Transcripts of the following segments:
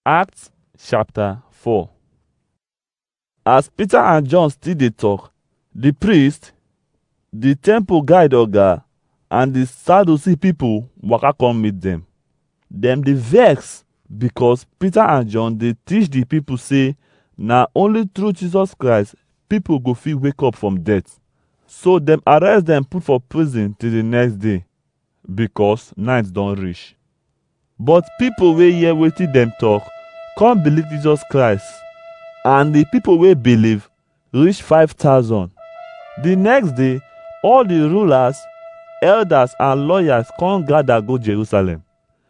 Acts chapter 4 As Peter and John still dey talk, the priest, the temple guide oga, and the Sadducee people waka come meet them. Dem dey vex because Peter and John dey teach the people say na only through Jesus Christ people go fit wake up from death. So dem arrest them put for prison till the next day. because night don reach. But people wey hear wetin dem talk come believe Jesus Christ and the people wey believe reach 5,000. The next day, all the rulers, elders and lawyers come gather go Jerusalem.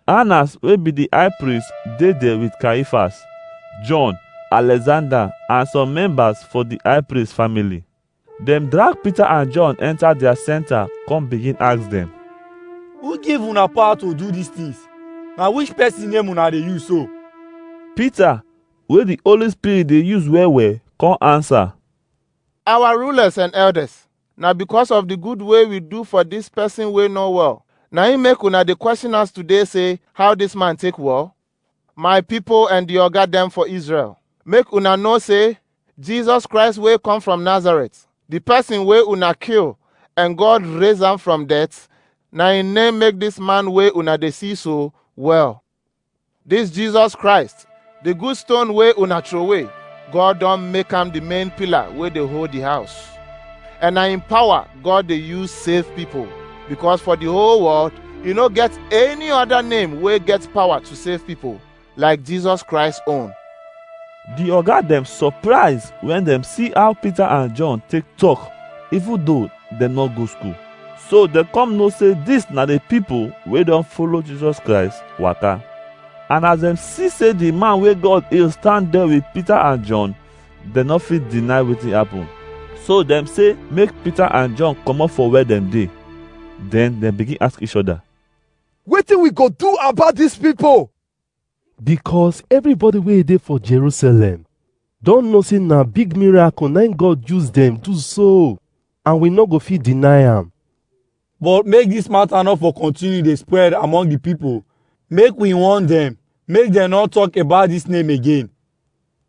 Annas wey be the high priest dey there with Caiaphas, John, Alexander and some members for the high priest family. Dem drag Peter and John enter their center come begin ask dem. Who give una power to do these things? Na which person name una dey use so? Peter wey the Holy Spirit dey use well well come answer. Our rulers and elders, na because of the good way we do for this person wey no well. Na im make una dey question us today say how this man take well? My pipo and di oga dem for Israel, make una know sey Jesus Christ wey come from Nazareth, di person wey una kill and God raise am from death, na im name make dis man wey una dey see so well. Dis Jesus Christ, di good stone wey una throway, God don make am di main pillar wey dey hold di house. And na im power God dey use save pipo because for di whole world e no get any oda name wey get power to save pipo like Jesus Christ own. Di oga dem surprise wen dem see how Peter and John take talk even though dem no go school. So dem come know say dis na di pipo wey don follow Jesus Christ waka. And as dem see say di man wey God heal stand there with Peter and John, dem no fit deny wetin happen. So dem say make Peter and John comot for where dem dey. Then dem begin ask each other. Wetin we go do about dis pipo? Because everybody wey dey for Jerusalem don know say na big miracle na im God use dem do so and we no go fit deny am. But make dis mata no for kontinu dey spread among di pipo, make we warn dem, make dem no tok about dis name again.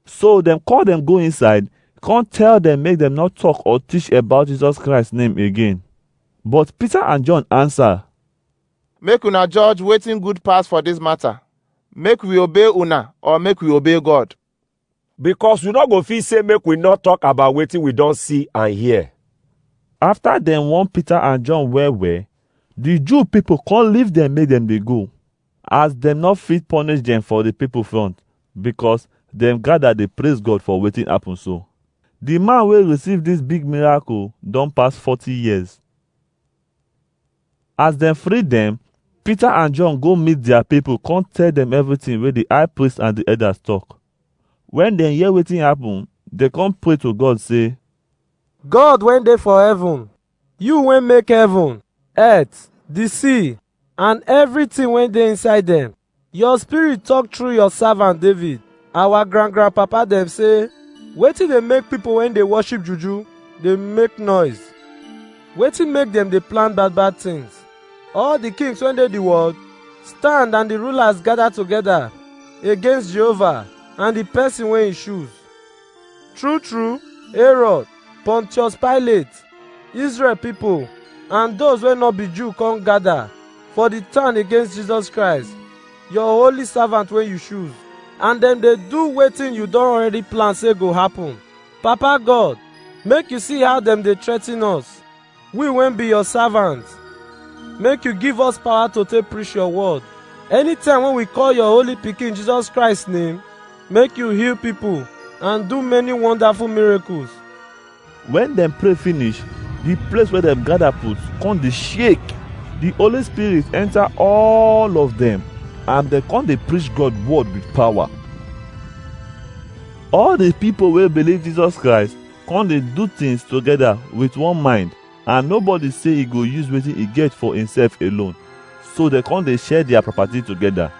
So dem call dem go inside, come tell dem make dem no talk or teach about Jesus Christ name again. But Peter and John answer, Make una judge wetin good pass for dis matter. Make we obey una or make we obey God? because we no go fit say make we no talk about wetin we don see and hear. After dem warn Peter and John well well, the Jew people come leave them make them dey go, as dem no fit punish them for the people front, because dem gather dey praise God for wetin happen so. The man wey receive this big miracle don pass 40 years. As dem free dem, Peter and John go meet their people come tell them everything wey the high priest and the elders talk. When dem hear wetin happen, dem come pray to God say, God wey dey for heaven, you wey make heaven, earth, the sea, and everything wey dey inside dem, Your spirit talk through your servant David. Our grand grand papa dem say, Wetin dey make people when dey worship juju dey make noise? Wetin make dem dey plan bad bad things? All the kings when dey the world stand and the rulers gather together against Jehovah and the person wey he choose. True true, Herod, Pontius Pilate, Israel people, and those wey no be Jew come gather for the town against Jesus Christ, your holy servant wey you choose. And dem dey do wetin you don already plan say go happen. Papa God, make you see how dem dey threaten us. We wey be your servant, make you give us power to take preach your word. Anytime when we call your holy pikin Jesus Christ name, make you heal people and do many wonderful miracles. When dem pray finish, the place where dem gather put come dey shake. The Holy Spirit enter all of them and dem come dey preach God word with power. All the people wey believe Jesus Christ come dey do things together with one mind and nobody say e go use wetin e get for himself alone so dem come dey share their property together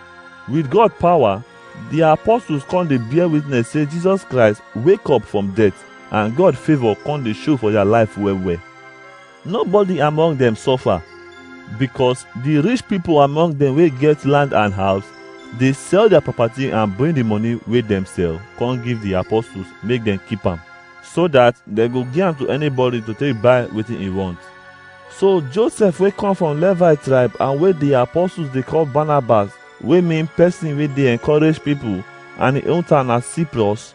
with god power the apostles come dey bear witness say jesus christ wake up from death and god favour come dey show for their life well well Nobody among dem suffer because the rich people among them wey get land and house dey sell their property and bring the money wey dem sell come give the apostles make dem keep am so that dem go give am to anybody to take buy wetin e want. So Joseph wey come from Levi tribe and wey the apostles dey call Barnabas wey mean person wey dey encourage people and im own town na Cyprus